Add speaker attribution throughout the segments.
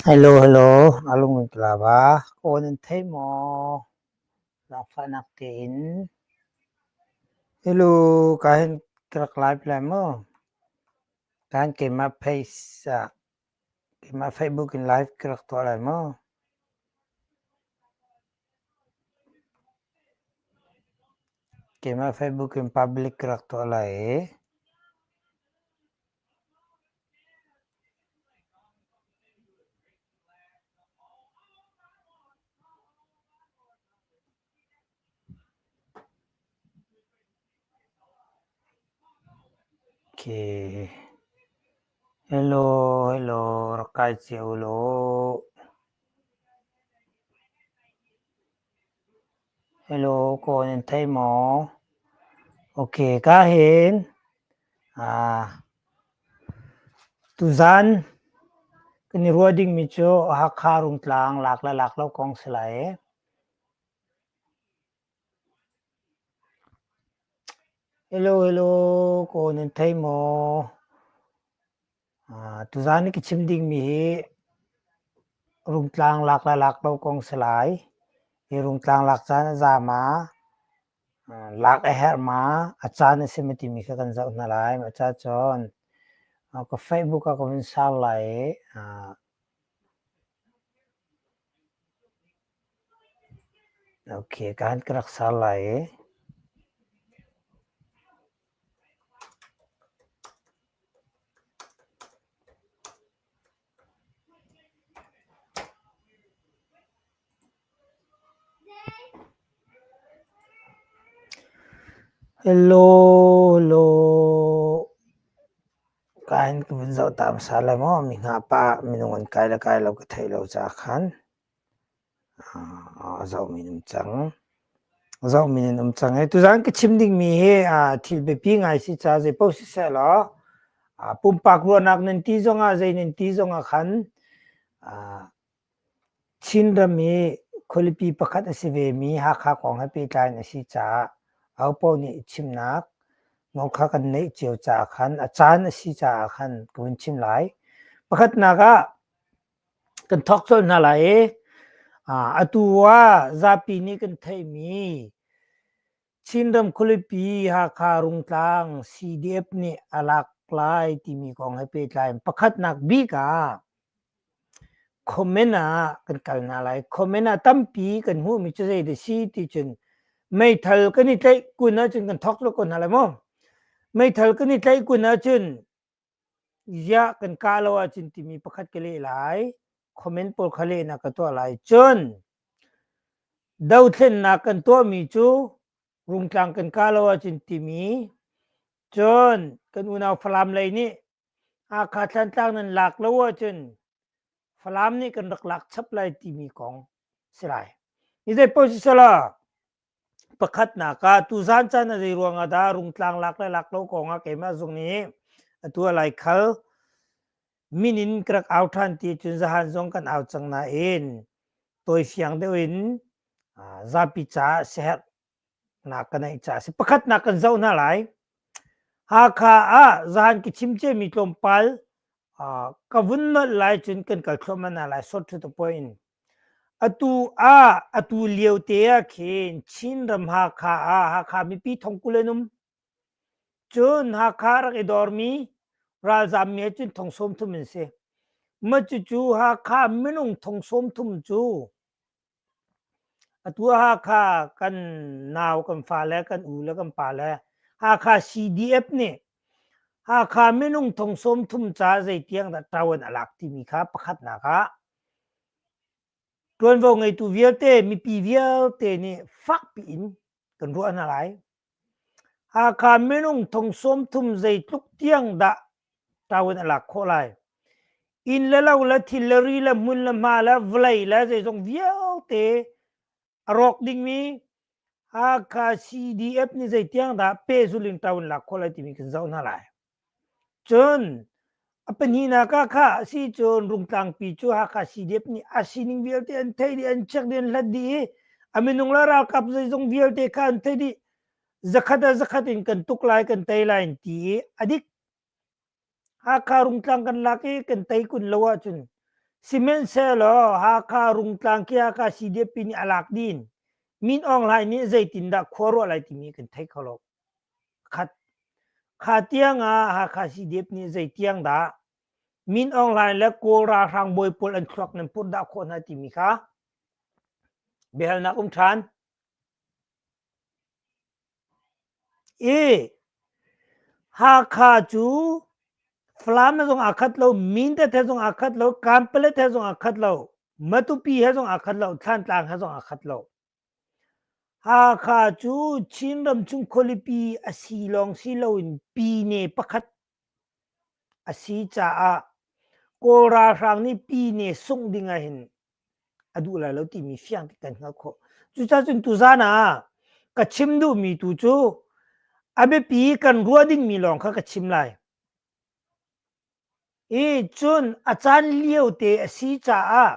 Speaker 1: Hello hello a lung in ka la ba aw nan thei maw zaangfahnak tein hello ka hin ka rak lai pe lai maw ka hin keimah phei sa. Keimah Facebook in live ka rak tuah lai maw? Keimah Facebook in public ka rak tuah lai i, Hello, hello, rak kai cio law. Hello, kaw nan thei maw? Ok, ka hin. Ah, tuzan kan i ruah dingmi cu Hakha Rungtlang lak le lak lo kong si lai. Kaw nan thei maw? Tuzaan na ka chim dingmi hi rungtlang lak le lak lo kong si lai. Hi rungtlang lak caan a zaam ah lak a herh ma, a caan a si mi timi kha kan zoh hna lai. Mah cacun ka Facebook ah ka vun sau lai i Okay, kan ka rak ser lai i. Hello, hello. Ka in ka vun zoh ta hmasa lai maw. Mi hna pa minung an kai le kai lo ka theih lo caah khan a zohmi in um cang. Zohmi in um cang i tuzaan ka chim dingmi hi thil biapi ngai si caah zeipaoh sisehlaw pumpak ruahnak nan ti zongah, zei nan ti zongah khan Chinram hi khualipi pakhat a si vemi Hakha kong he pehtlai in a si caah ahopaoh nih chimnak ngol kha kan neih cio caah khan a caan a si caah khan ka vun chim lai. Pakhatnak ah kan thawk colh hna lai i atu ah zapi nih kan theihmi Chinram khualipi Hakha Rungtlang CDF nih a lak lai timi kong he pehtlai in pakhatnak bik ah comment ah kan kal hna lai. Comment ah tampi kan hmuhmi cu zei da si ti cun meithal kan i tlaih kun ahcun kan thawk lo ko hna lai maw? Meithal kan i tlaih kun ahcun ziah kan kah lo ahcun timi pakhat ka leh lai comment pawl kha lehnak ka tuah lai cun dothlennak kan tuahmi cu rungtlang kan kah lo ahcun timi cun kan unau falam lei nih hakha thlantlang nan lak lo ahcun falam nih kan rak lak chap lai timi kong si lai ni zei paoh si sala Pakhatnak ah tuzaan caan a zei ruang ah dah rungtlang lak le lak lo kong ah keimah zung nih atu ah lai khal min in ka rak au ṭhan ti cun zahan zong kan au cang nain tawifiang deuh in zapi caah siaherhnak ka neih caah a si. Pakhatnak kan zoh hna lai. Hakha ah zahan ka chim ciami tlawmpal ka vun nolh lai cun kan kal thluahmah hna lai. Sawtthut appoint in. Atu ah atu liote ah khin Chinram Hakha ah Hakha mipi thongkul an um. Cun Hakha a rak i dormi ralzaam mi ahcun thong sawm thum an si. Mah cucu Hakha minung thong sawm thum cu atu ah Hakha kan nau kan fale, kan u le kan pa le Hakha CDF nih Hakha minung thong sawm thum caah zeitiang dah ṭo an a lak timi kha pakhatnak ah Ṭuanvo ngeitu vialte, mipi vialte nih fakpi in kan ruah hna lai. Hakha minung thong sawm thum zeitluk tiang dah ṭawen a lak khawh lai? Inn le lo le thil le ri le hmun le hma le vawlei le zeizong vialte a rawk dingmi Hakha CDF nih zeitiang dah pehzuling ṭaun lak khawh lai timi kan zoh hna lai. Cun a pahnihnak ah kha a si cun Rungtlangpi cu Hakha CDF nih a sining vialte an theih dih, an check dih, an hlat dih i a minung le ralkap zeizong vialte kha an theih dih. Zakhat ah zakhat in kan tuk lai, kan tei lai an ti i a dik Hakha Rungtlang kan lak i kan tei kun lo ahcun sihmanhsehlaw Hakha Rungtlang Kyakkha CDF nih a lak din Min Aung Hlaing nih zeitindah khuaruah lai timi kan thei kho lo. Khat kha tiang ah Hakha CDF nih zeitiang dah Min Aung Hlaing le Kawl ralhrang bawi pawl an thluak nan purh dah khawh hna timi kha biahalnak um ṭhan. E. Hakha cu Falam he zong aa khat lo, Mindat he zong aa khat lo, Kanpalet he zong aa khat lo, Matupi he zong aa khat lo, Thantlang he zong aa khat lo. Hakha cu Chinram chung khualipi a si lawng si loin pine pakhat A si caah Kawl ralhrang nih pi ne sungh ding ahhin a duh lai lo timi fiang kan hngalh khawh. Cucaah cun tuzaan ah ka chim duhmi tu cu a biapi kan ruah dingmi lawng kha ka chim lai. I cun a caan lio te a si caah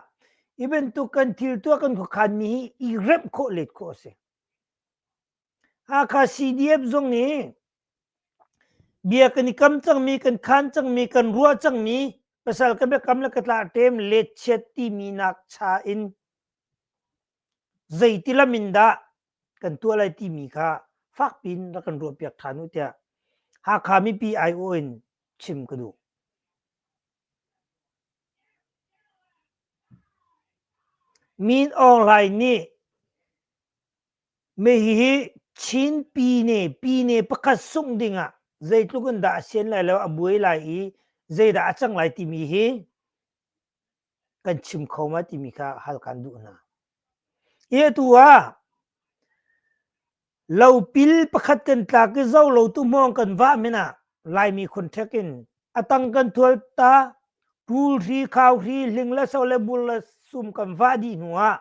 Speaker 1: hi bantuk kan thil tuah kan khuakhanmi hi i remh khawh let khawh a si. Hakha CDF zung nih bia kan i kam cangmi, kan khaan cangmi, kan ruah cangmi pasal ka biakam le ka tlahteem letchiat timi nak cha in zeiti lam in dah kan tuah lai timi kha fakpi in rak kan ruahpiak ṭhan u tiah Hakha mipi aiawh in chim ka duh. Min Aung Hlaing nih Hihi Chin pine, pine pakhat sungh dingah zeitluk in dah a sian lai lo, a buai lai i zeidah a cang lai timi hi kan chim kho ma timi kha hal kan duh hna. Hi atu ah lopil pakhat kan tlak i zo lo tu hmawng kan vah men ah Laimi khunṭhek in a tang kan thual ta pul hri, khau hri, hling le so le bul le sum kan vah dih hnu ah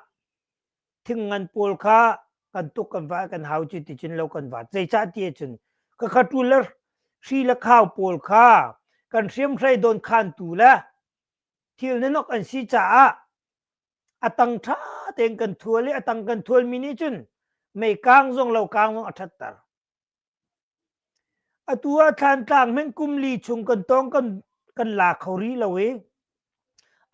Speaker 1: Thingngan pawl kha kan tuk kan va kan hau cu ti cun lo kan va zeicah ti cun ka khatu le hri le khau pawl kha kan hriam hrai don khantu le thil nanok an si caah atang tha tein kan thual i atang kan thualmi nih cun mei kang zong lo kang zong a thatter Atu ah Thlantlang hmanh kum li chung kan tawng kan, kan la kho rih lo i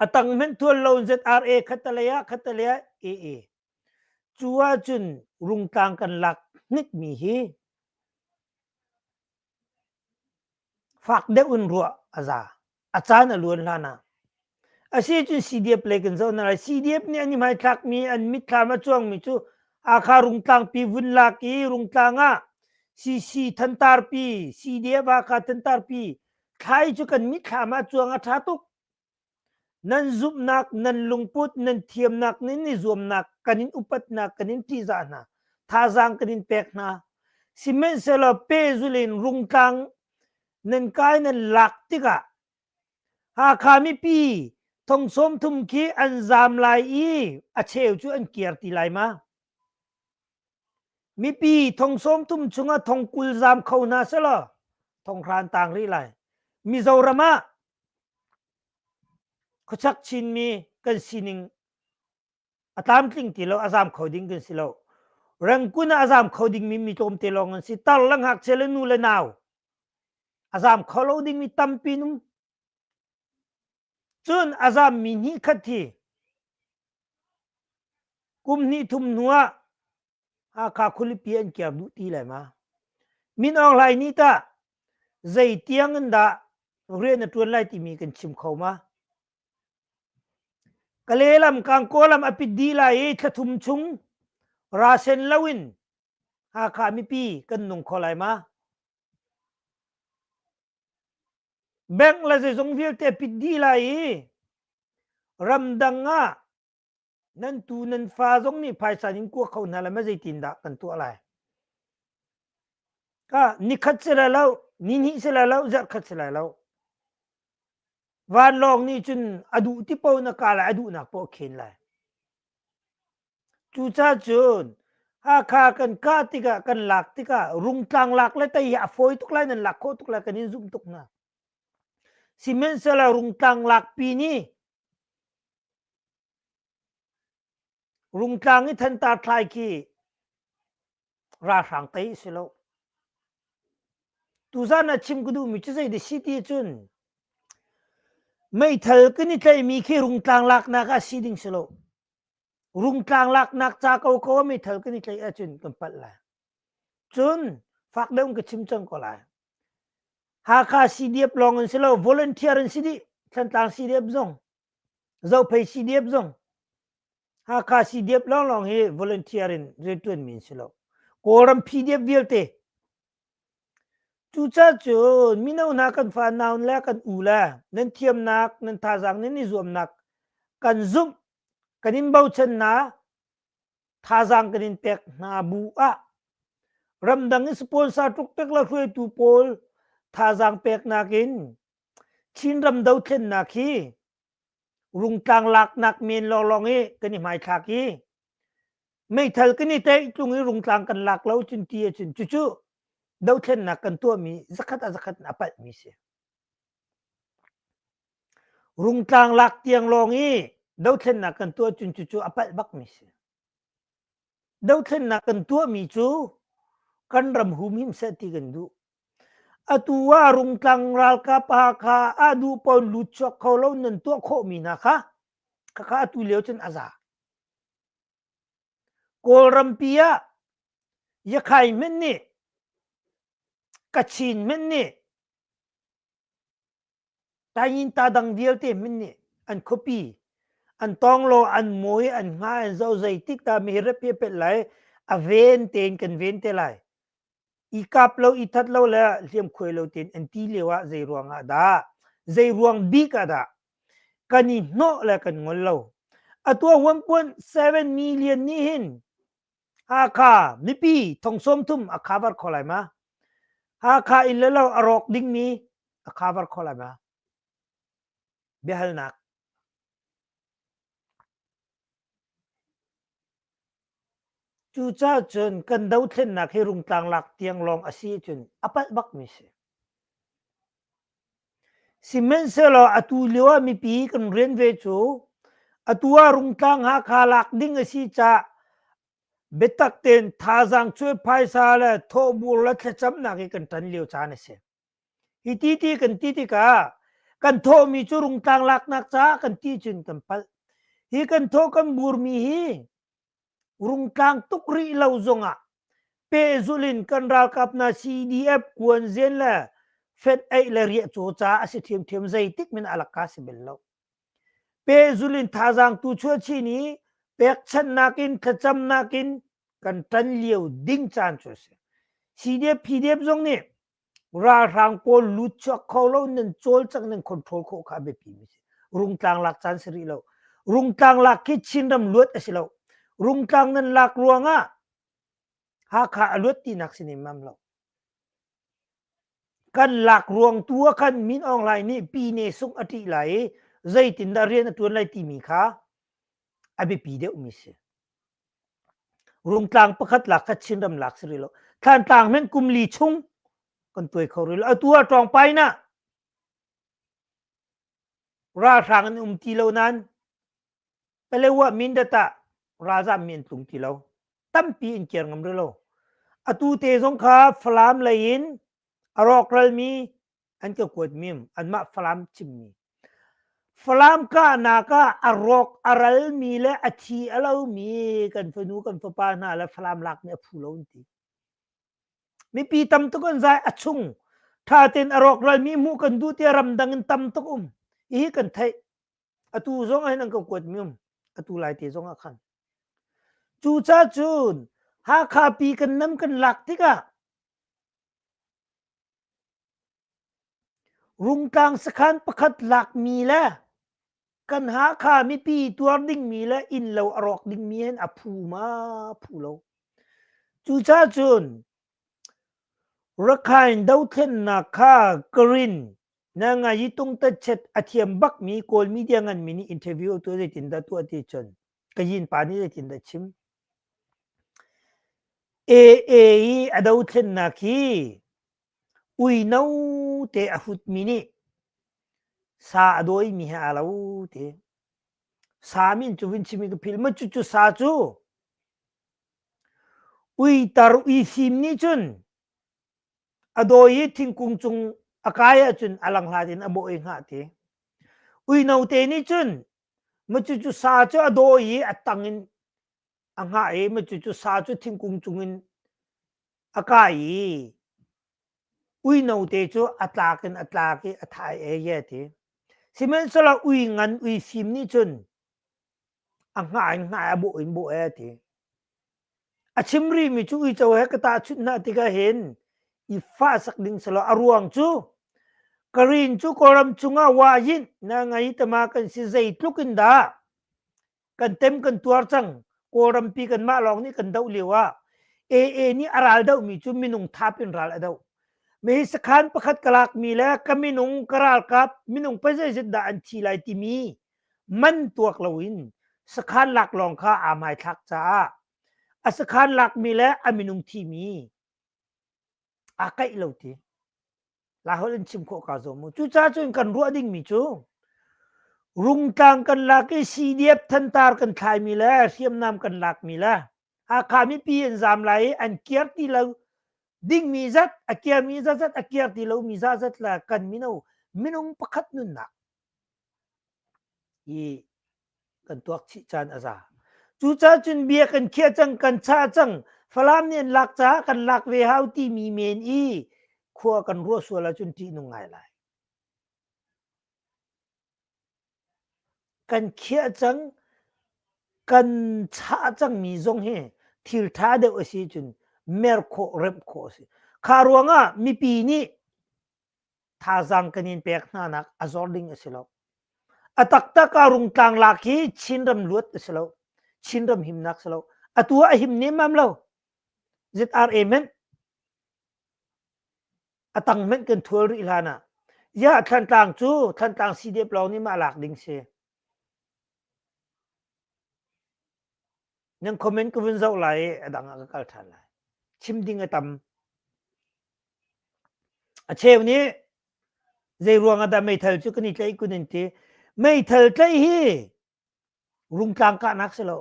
Speaker 1: a tang hmanh thual lo ZRA khatalei ah khatalei ah AA cu ahcun Rungtlang kan lak hnikmi hi fak deuh in ruah a za a caan a luan hlan ah a si cun CDF lei kan zoh hna lai CDF nih an i hmaithlakmi an mitthlam a cuangmi cu Hakha Rungtlangpi vun lak i Rungtlang ah CC Thantarpi CDF Hakha Thantarpi thlai cu kan mitthlam ah cuang a ṭha tuk Nan zumhnak, nan lungput, nan thiamnak nih ni zuamnak kan in upatnak kan in ṭihzah hna. Thazaang kan in pek hna. Sihmanhsehlaw pehzul in rungtlang nan kai nan lak tikah Hakha mipi thongsawm thum khi an zaam lai i a cheu cu an kir ti lai ma? Mipi thongsawm thum chungah thong kul zaam kho hna selaw thonghran tang rih lai. Mizoram ah Khuachak Chinmi kan sining a tlamtling ti lo, a zaam kho ding kan si lo. Rangkun ah a zaam kho dingmi mi tlawmte lawng an si. Tar le ngakchia le nu le nau a zaam kho lo dingmi tampi nung. Cun a zaammi hnih khat hi kum hnih thum hnu ah Hakha khualipi an kir duh ti lai ma? Min Aung Hlaing nih tah zei tiang in dah rian a ṭuan lai timi kan chim kho ma? Kale lam Kangkaw lam a pit dih lai i thla thum chung rasen lo in Hakha mipi kan nung kho lai ma? Bank le zeizong vialte pit dih lai i ramdang ah nan tu nan fa zong nih phaisa in kua kho hna lai ma zeitindah kan tuah lai ka nikhat si lai lo ni hnih si lai lo zarh khat si lai lo van lawng nih cun a duh ti po na ka lai a duhnak po khen lai cuca cun hakha kan kah tikah kan lak tikah rungtlang lak le tei a fawi tuk lai nan lak khawh tuk lai kan in zumh tuk na siment sala rungtlang lak pi ni Rungtlang i thantar thlai khi ralhrang tei a si lo. Tuzan a chim ka duhmi cu zeiti si ti cun meithal kan i tlaihmi khi rungtlang laknak ah si ding si lo. Rungtlang laknak ca ko ko ah meithal kan i tlaih ahcun kan palh lai. Cun fak deuh ka chim cang ko lai. Hakha CDF lawng in si lo, volunteer in si dih, Thantlang CDF zong Zophei CDF zong Hakha CDF lawnglawng hi volunteer in riantuan mi si lo. Kawlram PDF vialte. Cucaah cu mino hna kan fa naun le kan u le nan thiamnak nan thazaang nan i zuamnak kan zumh kan in bochan hna thazaang kan in pek hna bu ah ramdang i sponsor tuk tek la hruaitu pawl thazaang pek nakin Chinram dothlennak hi rungtlang laknak men lawnglawng i kan i hmaithlak i meithal kan i taih tlung i rungtlang kan lak lo cun ti ahcun cucu dothlennak kan tuahmi zakhat a zakhat in a palhmi si. Rungtlang lak tiang lawng i dothlennak kan tuah cun cucu a palh bakmi si. Dothlennak kan tuahmi cu kan ram hum him seh ti kan duh. Atu ah Rungtlang ralkap Hakha ah duh pawn lut chuak kho lo nan tuah khawhmi hna kha khakha atu lio cun a za. Kawlrampi ah Yakhay hmanh nih Kachin hmanh nih Taingin-ta dang vialte min nih an khuapi, an tawnglaw, an mui, an nga, an zo zeitik dah mi rep hi a pet lai, a ven tein kan ven te lai. I kap lo, i that lo le hliam khuai lo tein an ti lio ah zei ruang ah dah, zei ruang bik ah dah kan i hnawh le kan ngol lo. Atu a huampuan 7 million nih hin Hakha mipi thongsawm thum a khavar kho lai ma? Hakha in le lo a rawk dingmi a khavar kho lai ma? Biahalnak. Cucaah cun kan dothlennak hi rungtlang lak tiang lawng a si cun a palh bakmi si. Sihmanhsehlaw atu lioah mipi kan rian ve cu atu ah Rungtlang Hakha lak ding a si caah biatak tein thazaang cuai phaisa le thawhbur le thlacamnak hi kan ṭan lio caan a si. Hi ti ti kan ti tikah kan thawhmi cu Rungtlang laknak caah kan ti cun kan palh. Hi kan thawh kan burmi hi Rungtlang tuk rih lo zongah pehzulh in kan ralkap hna CDF kuanzen le fet eih le riah caw ca a si thiamthiam zeitik min alaka si bel lo. Pehzulh in thazaang tu chuachi ni pekchannak in thlacamnak in kan tan lio ding caan cu a si. CDF, PDF zong nih ralhrang pawl lut chuak kho lo nan cawl cang nan control khawh kha a biapi mi si rungtlang lak caan si rih lo rungtlang lak khi chinram luat a si lo rungtlang nan lak ruangah hakha a luat tinak si nem mam lo kan lak ruang tu ah khan Min Aung Hlaing nih pine sung a ṭih lai i zeitindah rian a ṭuan lai timi kha a biapi deuh mi si Rungtlang pakhat lak kha Chinram lak si rih lo. Thlantlang meng kum li chung kan tuai kho rih lo. Atu ah ṭawng pai na ralhrang an um ti lo nain Palewa Mindat ah ralzam mi an tlung ti lo. Tampi in kir ngam rih lo. Atu te zong kha Falam lei in a rawkral mi an ka kuat mim anmah falam chimmi falam kahnak ah a rawk a ral mi le a thi a lo mi kan fanu kan fapa hna le falam lak nih a phu lo an ti mipi tam tuk an zai a chung tha ten a rawk ral mi mu kan du tia ramdang in tam tuk um hi kan thai atu zong ai nang ka kuat mi um atu lai te zong a khan cu cha cun Hakha pi kan nam kan lak tikah Rungtlang sakhan pakhat lakmi le kan Hakha mipi tuar dingmi le innlo a rawk dingmi hin a phu ma phu lo. Cucacun Rakhine dothlennak kha Karin Nangayi Tungtatchet a thiam bakmi Kawl media nganmi nih interview tu zeitindah tuah ti cun ka yin pa nih zeitin dah chim AA i a dothlennak hi uino te a hutmi nih sa a dawimi he aa lo ti sa min cu vun chim i ka phil ma cucu sa cu uitar uifim nih cun a dawi i thingkung cung a kai ahcun a langhlat in a bawh i hngah ti uino te nih cun Macucu sa cu a daw i a tang in a hngah i macucu sa cu thingkung cung in a kai i uino te cu a tlak in a tlak i a thai eye ti. Sihmanhsehlaw ui ngan ui fim nih cun a hngah in hngah i a bawh in bawh e ti. A chim rihmi cu uico he ka tahchunh hna tikah hin i fah sak ding selaw a ruang cu ka rin cu Kawlram cungah wa yinh na ngei tama kan si zeitluk in dah kan tem kan tuar cang Kawlrampi kanmah lawng nih kan doh lio ah AA nih a ral dohmi cu minung thap in ral a doh mi sakhan pakhat ka lakmi le ka minung ka ralkap minung pa zeizat dah an thi lai timi man tuak loin sakhan lak lawng kha aa hmaithlak caah a sakhan lakmi le a minung thimi aa kaih lo ti la holh in chim khawh kaa zuam u cucaah cun kan ruah dingmi cu rungtlang kan lak i sidiap thantar kan thlaimi le hriamnam kan lakmi le hakha mipi an zam lai i an kir ti lo dingmi zat a kirmi zat zat a kir ti lomi zat zat le kan mino minung pakhat nunnak i kan tuak chih caan a za. Cucaah cun bia kan khiah cang, kan chah cang. Falam nih an lak caah kan lak ve hau timi men i khua kan ruah sual ahcun ṭih nung ngai lai. Kan khiah cang, kan chah cangmi zong hi thil ṭha deuh a si cun mer khawh, remh khawh a si. Kha ruangah mipi nih thazaang kan in pek hnanak a zor ding a si lo. A taktak ah rungtlang lak hi Chinram luat a si lo. Chinram himnak si lo. Atu a him nemam lo. Zit ar amen. A tang men kan thual ri hlan ah. Ya thlantlang cu thlantlang CDF lawng nih mah lak ding si. Yang comment ka vun zau lai adang a ka kal than lai. Chim ding a tam. A cheu nih zeiruang ah dah meithal cu kan i tlaih kun an ti. Meithal tlaih hi rungtlang kahnak si lo.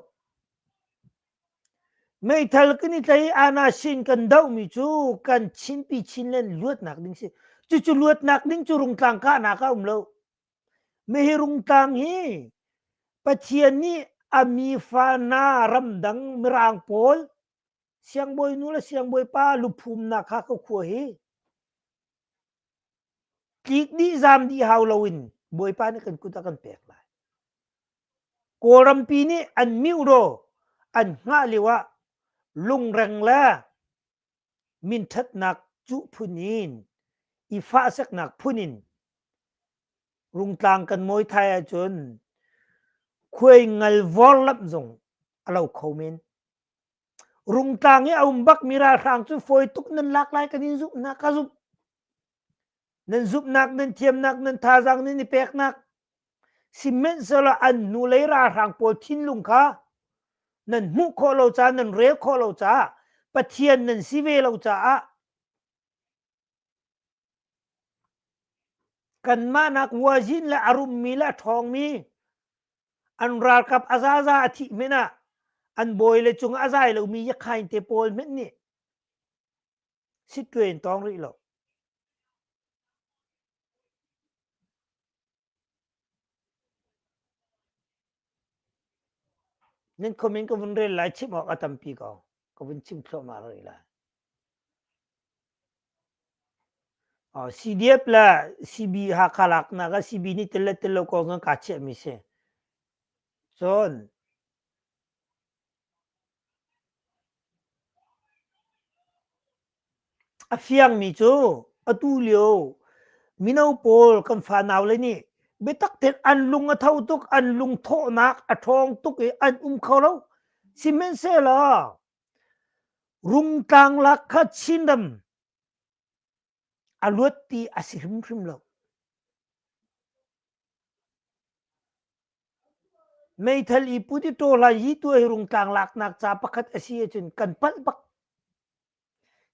Speaker 1: Meithal kan i tlaih i ana sin kan dohmi cu kan chinpi chinlen luatnak ding si. Cucu luatnak ding cu rungtlang kahnak ah um lo. Hihi rungtlang hi Pathian nih a mi fa hna ramdang mirang pawl Siangbawi nu le siangbawi pa luphumnak kha ka khua hi tlik dih zam dih hau lo in Bawipa nih kan kut a kan pek lai. Kawlrampi nih an miuhraw an hngah lio ah lungreng le minṭhatnak cu phun in i fahseknak phun in rungtlang kan mawi thai ahcun khuai ngal vorlamh zong a lo kho men. Rungtlang i a um bak mi ralhrang cu fawi tuk nan lak lai kan in zumh na ka zumh. Nan zumhnak nan thiamnak nan thazaang nan i peknak sihmanhsehlaw an hnulei ralhrang pawl thinlung kha nan hmuh khawh lo caah nan rel khawh lo caah Pathian nan si ve lo caah Kanmah nak vuazin le a rummi le a ṭhawngmi an ralkap a zaza a thih hmenh ah an bawi le cung a zai lomi yakhain te pawl hmenh nih sit tuin tawng rih lo. Nan comment ka vun rel lai chim awk a tampi ko. Ka vun chim thluahmah rih lai. Oh, CDF la CB Hakha lak na ka CB ni tele tele ko ngan ka che mi si. Cun A fiangmi cu atulio mino pawl kan fanau le nih biatak tein an lung a tho tuk, an lungthawhnak a ṭhawng tuk i an um kho lo. Sihmanhsehlaw Rungtlang lak kha Chinram a luat ti a si hrimhrim lo. Meithal i put i ṭaw lai hi tu hei rungtlang laknak ca pakhat a si ahcun kan palh bak.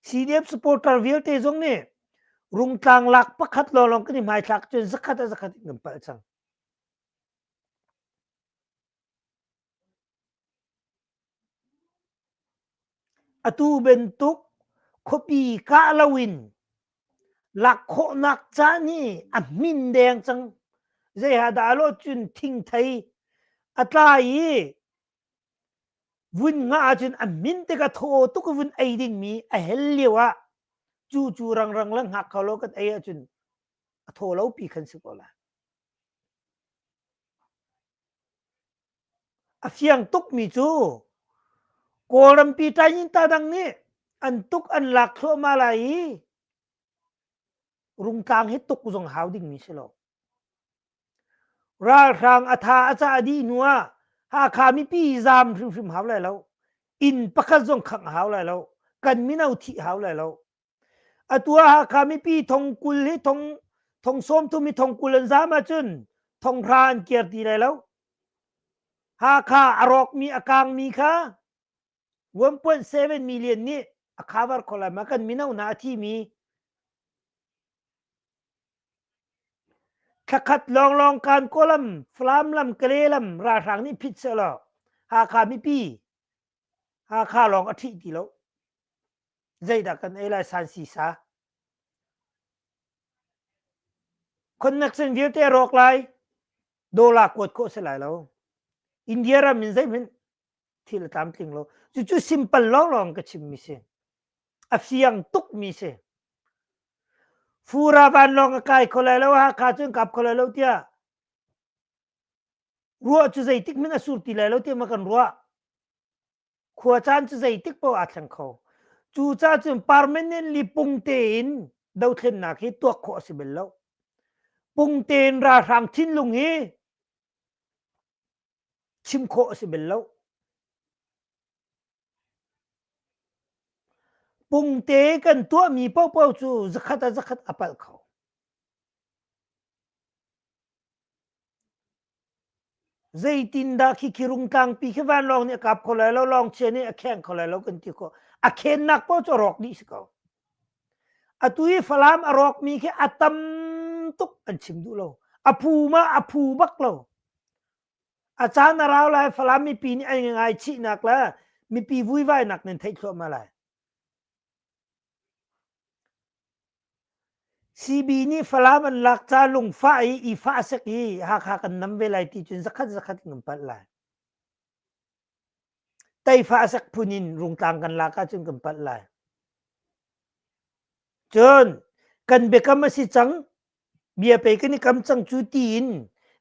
Speaker 1: CDF supporter vialte zong nih rungtlang lak pakhat lawlawng kan i hmaithlak cun zakhat ah zakhat in kan palh cang. Atu bantuk khuapi kah loin lak khawhnak caan hi a hmin deng cang. Zeihadah lo cun thingthei a tlai i vun ngah ahcun a min tikah thaw tuk vun ei dingmi a hel lio ah cu cu rangrang le hngak kho lo kan ei ahcun a thaw lopi kan si ko lai. A fiang tukmi cu Kawlrampi Tainginta dang nih an tuk an lak thluahmah lai i Rungtlang hi tuk zong hau dingmi si lo. Ralhrang a tha a cah a dih hnu ah Hakha mipi zaam hrimhrim hau lai lo. Inn pakhat zong khangh hau lai lo. Kan mino thih hau lai lo. Atu ah Hakha mipi thong kul hi thong thong sawm thum hi thong kul an zaam ahcun thonghra an kir ti lai lo. Hakha a rawkmi a kangmi kha 1.7 million nih a cover kho lai ma kan mino hna a thimi thlakhat lawnglawng kan kawlam Flam lam Kale lam ralhrang nih phit seh law Hakha mipi Hakha lawng a ṭhih ti lo. Zeidah kan ei lai san sisa? Connection vialte rawk lai. Dollar kuat khawh si lai lo. India ram in zeihmanh thil a tlam tling lo. Cucu simple lawnglawng ka chimmi si. A fiang tukmi si. Fura van lawng a kai kho lai lo, Hakha cun kap kho lai lo tiah Ruah cu zeitik min a sur ti lai lo tiah kan ruah. Khua caan cu zeitik paoh aa thleng kho. Cu ca cun permanent li pung tein dothlennak hi tuak khawh a si bel lo. Pung tein ralhrang thinlung hi chim khawh a si bel lo. Pumte kan tuahmi paohpaoh cu zakhat ah zakhat a palh kho. Zeitindah khikhi rung tlangpi khi vanlawng nih a kap kho lai lo, lawngchia nih a kheng kho lai lo kan ti khawh. A khennak paoh cu a rawk dih si ko. Atu i Falam a rawkmi khi a tam tuk an chim duh lo. A phu ma a phu bak lo. A caan a rau lai Falam mipi nih an ngaichihnak le mipi vuivainak nan theih thluahmah lai. CB nih Falam an lak ca lungfah i ifah sek i Hakha kan nam ve lai ti cun zakhat zakhat in kan palh lai. Teifa a sak phun in rungtlang kan lak ahcun kan palh lai. Cun kan biakam a si cang bia pei kan i kam cang cu ti in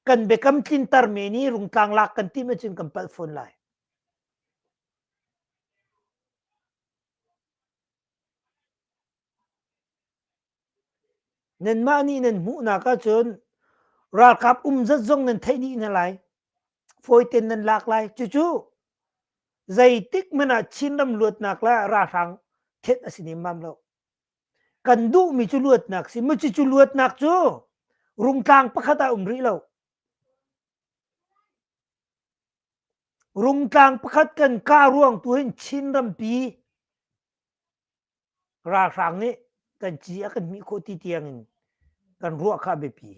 Speaker 1: kan biakam tlinter men i rungtlang lak kan timh ahcun kan palh fawn lai. Nanmah nih nan hmuhnak ahcun ralkap um zat zong nan theih dih hna lai. Fawiten nan lak lai. Cucu zeitik hmanh ah Chinram luatnak le ralhrang thenh a si nemmam lo. Kan duhmi cu luatnak si. Macu cu luatnak cu rungtlang pakhat ah um rih lo. Rungtlang pakhat kan kah ruang tu hin Chinrampi ralhrang nih kan ci a kan hmih khawh ti tiangin kan ruah kha a biapi.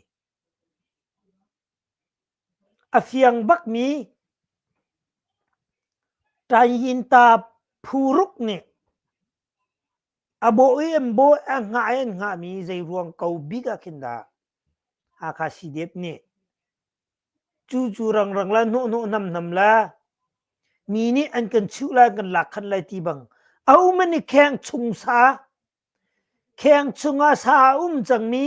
Speaker 1: A fiang bakmi Tainta phuruk nih a bawh i an bawh a ngah i an ngahmi zei ruang ko bik ah khin dah Hakha CDF nih Cucu rangrang le hnawhhnawh namnam le mi nih an kan chuh lai kan lak khat lai ti bang a um an i kheng chung sa kheng chungah sa a um cangmi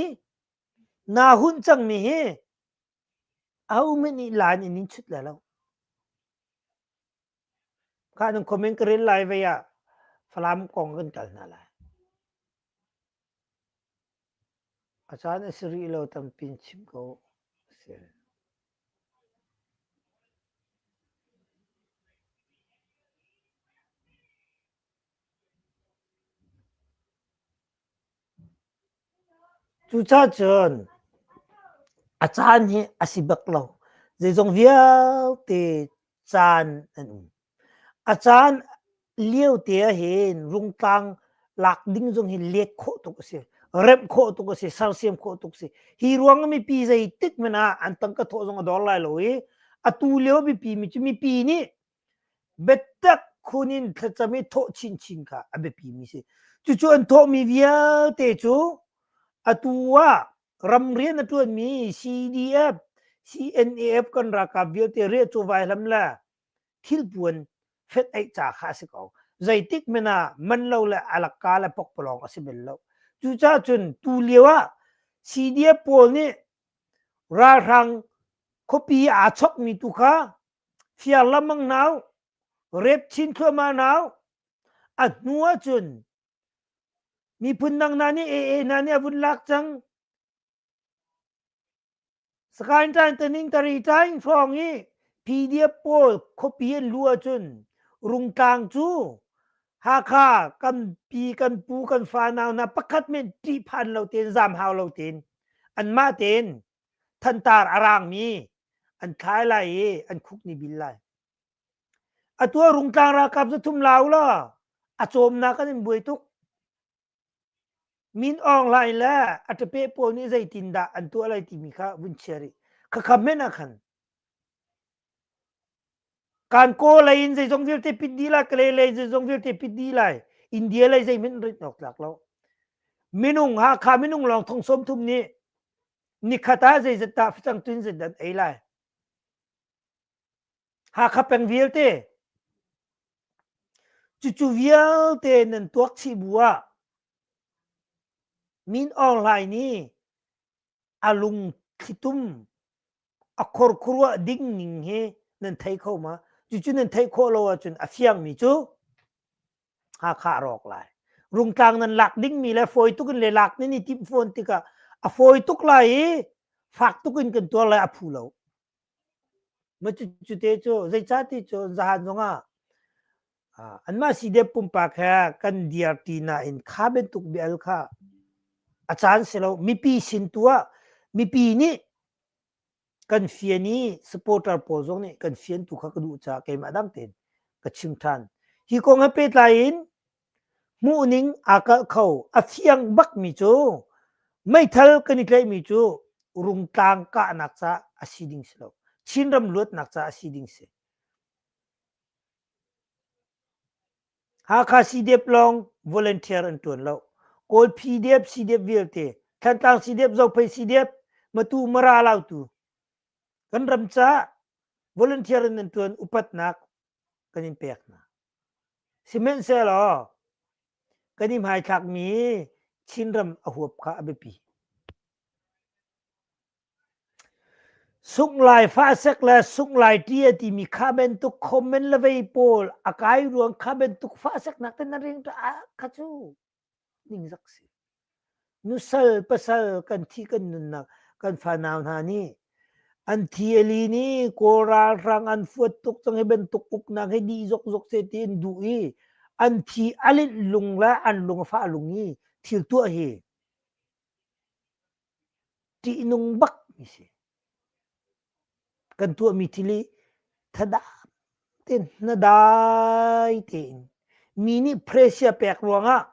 Speaker 1: na hunh cangmi hi a um in i laan in in chut le lo. Ka nung komen ka rel lai ve ah Falam kong kan kal hna lai. A caan a si rih lo tampi in chim ko a si. Cucacun a caan hi a si bak lo. Zeizong vialte caan an um. A caan lio te ahhin rungtlang lak ding zong hi let khawh tuk a si. Remh khawh tuk a si. Sersiam khawh tuk a si. Hi ruang ah mipi zeitik hmanh ah an tangka thawh zong a dor lai lo i, atu lio mipi mi cu mipi nih Biatak khun in thlacam i thawh chinchin kha a biapimi a si. Cucu an thawhmi vialte cu atu ah ramrian a ṭuanmi CDF, CNAF kan ralkap vialte riah chawvai hlam le thilpuan fedeih ca kha a si ko. Zeitik men ah man lo le alaka le pokpalawng a si bel lo. Cucaah cun tu lio ah CDF pawl nih ralhrang khuapi aa chokmi tu kha Thiar lamang nau, rep chin thluahmah nau, a hnu ahcun miphun dang hna nih AA hna nih a vun lak cang. Sakain tain taning tari tain hrawng i PDF pawl khuapi an lu ahcun rungtlang cu Hakha kan pi kan pu kan fa nau hna pakhat men ṭih phan lo tein zam hau lo tein anmah tein thantar a raangmi an thlai lai i an khuk ni bil lai atu ah rungtlang ralkap cu thum la ula a cawmnak kan in buai tuk min ong line le a tape pawl nih zeitin dah an tuah lai timi kha vun chia rih kha kham men ah khan Kan kaw lei in zeizong vialte pit dih lai, Kalay lei zeizong vialte pit dih lai. India lei zeihmanh rit awk tlak lo. Minung Hakha minung lawng thong sawm thum nih nikhat ah zeizat dah facang tuin zat an ei lai. Hakha peng vialte cucu vialte nan tuak chih bu ah Min Aung Hlaing nih a lungthlitum a khorkhuruah ding ning he nan thei kho ma cucu nan theih khawh lo ahcun a fiangmi cu Hakha rawk lai rungtlang nan lak dingmi le fawi tuk in le lak ni ni timh fawn tikah a fawi tuk lai i fak tuk in kan tuar lai a phu lo ma cucu te cu zeicati cu zahan zongah anmah sidep pumpak he kan dirti nain kha bantuk bial kha a caan si lo mipi sin tu ah mipi nih kan fian i supporter pawl zong nih kan fian tu kha ka duh caah keimah dang tein ka chim ṭhan hi kong he pehtlai in hmuhning aa kalh kho a fiang bakmi cu meithal kan i tlaihmi cu rungtlang kahnak ca a si ding si lo Chin ram luatnak ca a si ding si Hakha Sidep lawng volunteer an ṭuan lo. Kawlphi Dep, Sidep vialte, Thantlang Sidep, Zophei Sidep, Matu, Mara, Lautu. Kan ram caah volunteer in an ṭuan upatnak kan in pek hna. Sihmanhsehlaw kan i hmaithlakmi Chinram a huap kha a biapi. Sunglaai fahsek le sunglaai ṭi a timi kha bantuk comment le vei pawl a kai ruang kha bantuk fahseknak te na ring ṭah ah kha cu ningzak si. Nusal pasal kan thi kan nunnak kan fanau hna nih an thi a li ni kawl ralhrang an fuat tuk cang hi bantuk uknak hi dih zokzok se tiin duh i an thi a linh lung le an lung a fah lung i thil tuah hi Ṭihnung bak mi si. Kan tuahmi thili thadah tein hnadai tein mi nih pressure pek ruangah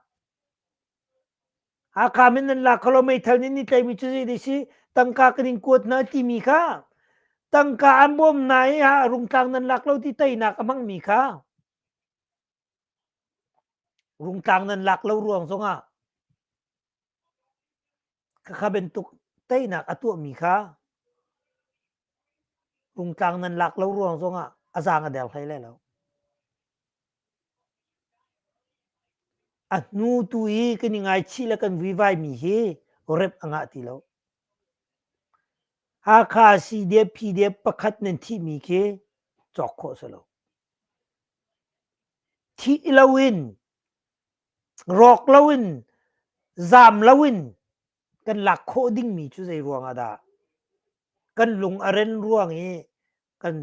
Speaker 1: Hakam in nan lak kalaw meithal nih ni tlaimi cu zei dei si tangka kan in kuat hna timi kha tangka an bawm na i a rungtlang nan lak lo ti teinak a hmangmi kha rungtlang nan lak lo ruang zongah Ka kha bantuk teinak a tuahmi kha rungtlang nan lak lo ruang zongah a zaang a der hlei lai lo. A hnu tu i kan i ngaichih le kan vuivai mi hi rep a ngah ti lo. Hakha CDF PDF pakhat nan thihmi khi cawk khawh si lo. Thih lo in Rawk loin zaam loin kan lak khawh dingmi cu zei ruangah dah? Kan lung a ren ruang i kan,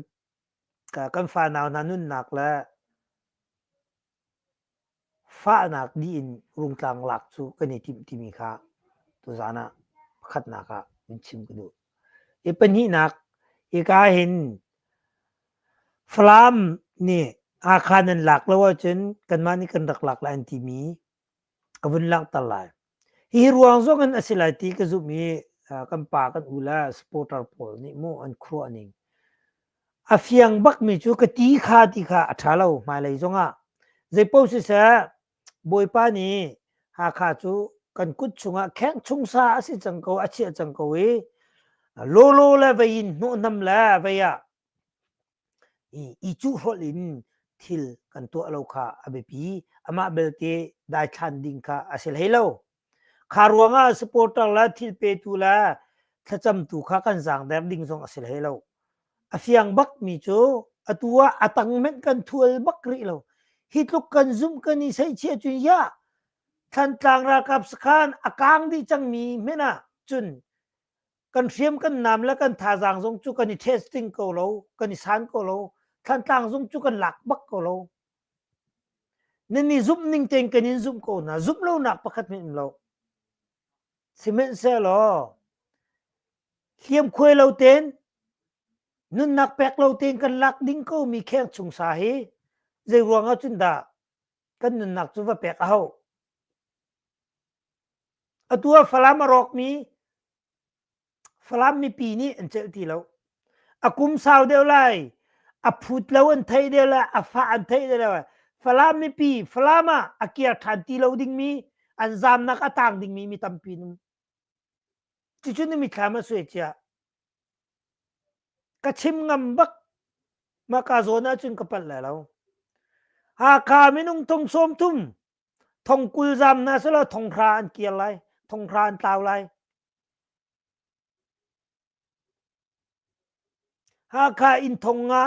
Speaker 1: kan fanau hna nunnak le fahnak dih in rungtlang lak cu kan i timh timi kha tuzaan ah pakhatnak ah in chim ka duh. I pahnihnak, hika hin Falam nih Hakha nan lak lo ahcun kanmah nih kan rak lak lai an timi ka vun langhter lai. Hi ruang zong in a si lai ti ka zumh i kan pa kan u le supporter pawl nih mu an khuaruah ning. A fiang bakmi cu ka ti kha ti kha a ṭha lo hmailei zongah. Zeipaoh siseh Bawipa nih Hakha cu kan kut chungah khengh chung sa a si cang ko, a chiah cang ko i lolo le vei in hnawhnam le vei ah i cuhhrolh in thil kan tuah lo kha a biapi. Amah belte daithlan ding kha a si hlei lo. Kha ruangah supporter le thil petu le thlacamtu kha kan zaangder ding zong a si hlei lo. A fiang bak mi cu atu ah a tang hmenh kan thual bak rih lo. Hi tluk kan zumh kan i seihchia cun ya Thantlang ralkap sakhan a kang dih cang mi hmenh ah cun kan hriam kan nam le kan thazaang zong cu kan i testing ko lo, kan i san ko lo. Thantlang zong cu kan lak bak ko lo. Nan i zumh ning tein kan in zumh ko hna. Zumh lonak pakhat hin um lo. Sihmanhsehlaw, hliamkhuai lo tein, nunnak pek lo tein kan lak ding komi kheng chung sa hi zei ruangah cun dah kan nunnak cu va pek a hau. Atu ah Falam a rawkmi Falam mipi nih an celh ti lo. A kum sau deuh lai, a phut lo an theih deuh lai, a fah an theih deuh lai. Falam mipi, Falam ah a kir ṭhan ti lo dingmi, an zaamnak a tang dingmi mi tampi um. Cucu na mithlam a sui cia. Ka chim ngam bak, ma ka zawn ahcun ka palh lai lo. Hakha minung thong sawm thum, thong kul zaam na selaw thong hra an kir lai, thong hra an tlau lai. Hakha Innthong nga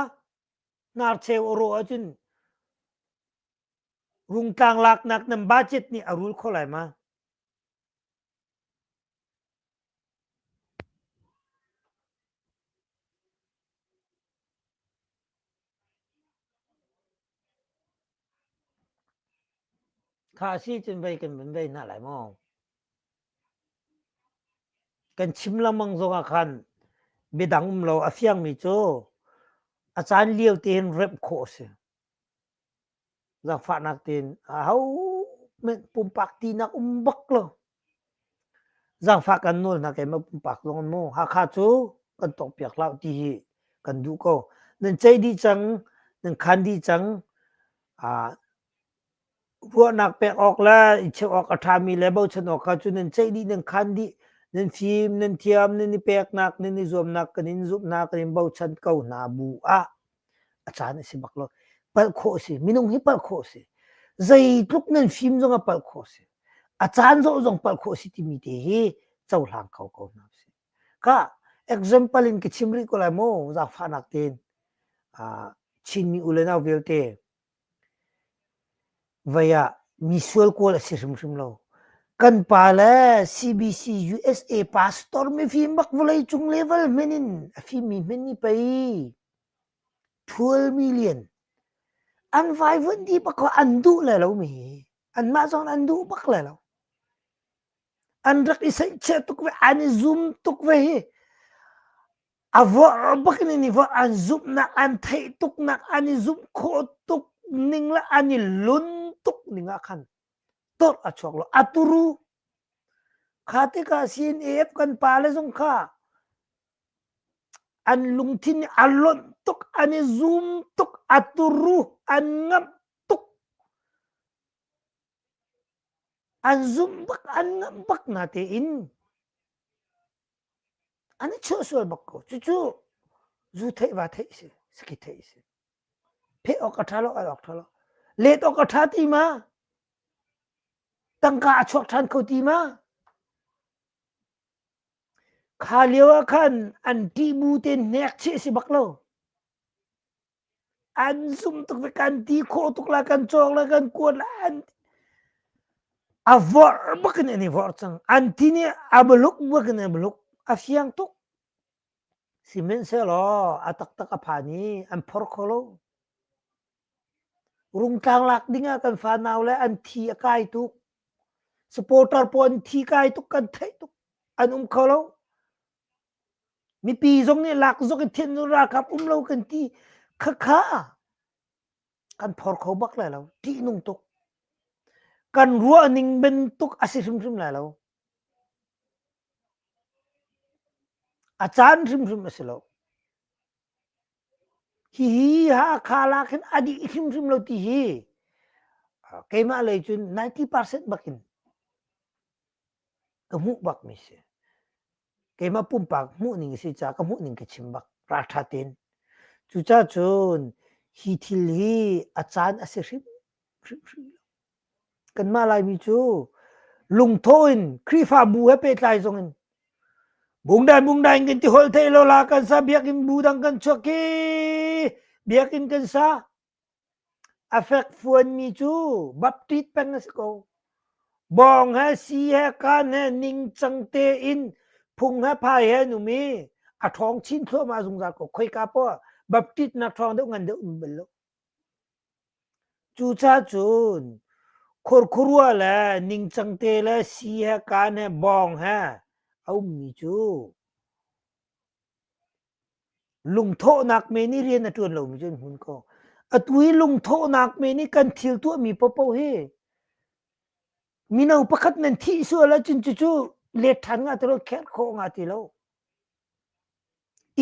Speaker 1: hnarcheu a rawh ahcun Rungtlang laknak nan budget nih a rul kho lai ma? Kha a si cun vei kan van vei hna lai maw? Kan chim lengmang zong ah khan midang um lo a fiangmi cu a caan lio tein remh khawh a si. Zangfahnak tein ahohmanh pumpak tinak um bak lo. Zaangfah kan nawl hna keimah pumpak zong in maw Hakha cu kan tuahpiak hlah ti hi kan duh ko. Nan ceih dih cang, nan khan dih cang. ruahnak pek awk le i cheuh awk a ṭhami le bochan awk kha cu nan ceih dih, nan khan dih, nan fim, nan thiam, nan i peknak, nan i zuamnak kan in zumhnak in bochan ko hna bu ah. A caan a si bak lo. Palh khawh a si. Minung hi palh khawh a si. Zeitluk nan fim zong ah palh khawh a si. A caan zoh zong palh khawh a si timi te hi cohlang kho ko hna usih. Ka example in ka chim rih ko lai maw zaangfahnak tein. Ah, Chinmi u le nau vialte Vei ah misual kawl a si hrimhrim lo. Kan pa le CBC-USA pastor mifim bak vawlei cung level hmen in a fimmi hmen i pei twelve million an vaivuanh dih bak kha an duh le lomi hi anmah zong an duh bak le lo. An rak i saihchiah tuk ve, an i zum tuk ve hi. A vuar bak in an i vuar. An zumhnak, an theih tuknak, an i zumh khawh tuk ning le an i lun tuk ning ah khan tawrh a chuak lo. A turu. Kha tikah CNAF kan pale zong kha an lungthin a lonh tuk, an i zum tuk, a turu, an ngamh tuk. An zumh bak, an ngamh bak hna tein an i chuah sual bak ko cucu zu theih va theih si saki theih si pheh awk a tha lo al awk tha lo let awk a tha ti ma tangka a chuak than kho ti ma kha lio ah khan an ti bu te nek che si bak lo an sum tuk le kan ti khawh tuk la kan cawk la kan kuan la an a vorh bakin an i vorh cang an ti nih a maluk bakin a maluk a fiang tuk sihmanhsehlaw a taktak a phan i an phor kho lo rungtlang lak dingah kan fanau le an thi a kai tuk supporter pawl an thi kai tuk kan theih tuk an um kho lo Mipi zong nih lak zok in thinhnu ralkap um lo kan ti. Khakha kan phor kho bak lai lo. Ṭihnung tuk. Kan ruah ning bantuk a si hrimhrim lai lo. A caan hrimhrim a si lo. Hihi Hakha lak hin a dih hrimhrim lo ti hi keimah lei cun 90% bak in ka hmuh bakmi si keimah pumpak hmuhning a si caah ka hmuhning ka chim bak ralṭha tein cucaah cun hi thil hi a caan a si hrimhrim lo kanmah laimi cu lungtho in khrihfabu he pehtlai zong in bungdai bungdai in kan ti holh thei lo la kan sa biakinn bu dang kan chuak i biakinn kan sa A fekfuanmi cu Baptist peng a si ko. Bawng he si he kaan he ningcang tein phung he phai he an um i a ṭhawng chin thluahmah zungzal ko. Khoika poah Baptist nak ṭhawng deuh ngan deuh um bel lo. Cucacun khurkhurua le ningcang te le si he kaan he bawng he a ummi cu Lungthawhnak men nih rian a ṭuan lomi cu an hmun ko. Atu hi lungthawhnak men nih kan thil tuahmi paohpaoh hi mino pakhat nan thih sual ahcun cucu let ṭhan nga ti lo, kherh khawh nga ti lo.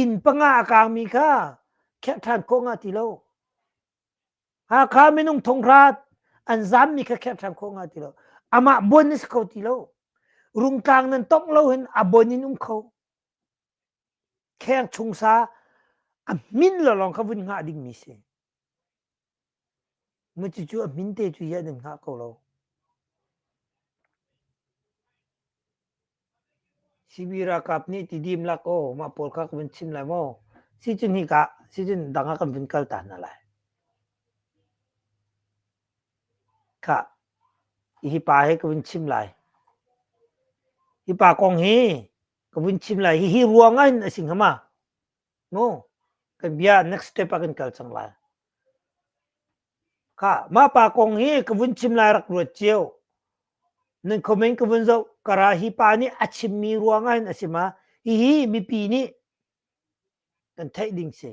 Speaker 1: Inn panga a kaangmi kha kherh ṭhan khawh nga ti lo. Hakha minung thonghrat an zaammi kha kherh ṭhan khawh nga ti lo. Amah buan na si kho ti lo. Rungtlang nan tongh lo hin a buan in um kho. kheng chung sa a min lo lawng kha vun hngah dingmi si mu cucu a min te cu yah nan hngah ko lo CB ralkap nih ti dim lak o mah pawl kha kan chim lai maw si cun hi ka si cun dang ah kan vun kal ta hna lai kha hi pa he kan vun chim lai hi pa kong hi ka vun chim lai hihi ruangah in a si ngama no kan bia next step ah kan kal cang lai ka mah pa kong hi ka vun chim lai rak ruat cio nan comment ka vun zo kara hi pa nih a chim mi ruangah in a si ma hihi mipi nih kan theih ding si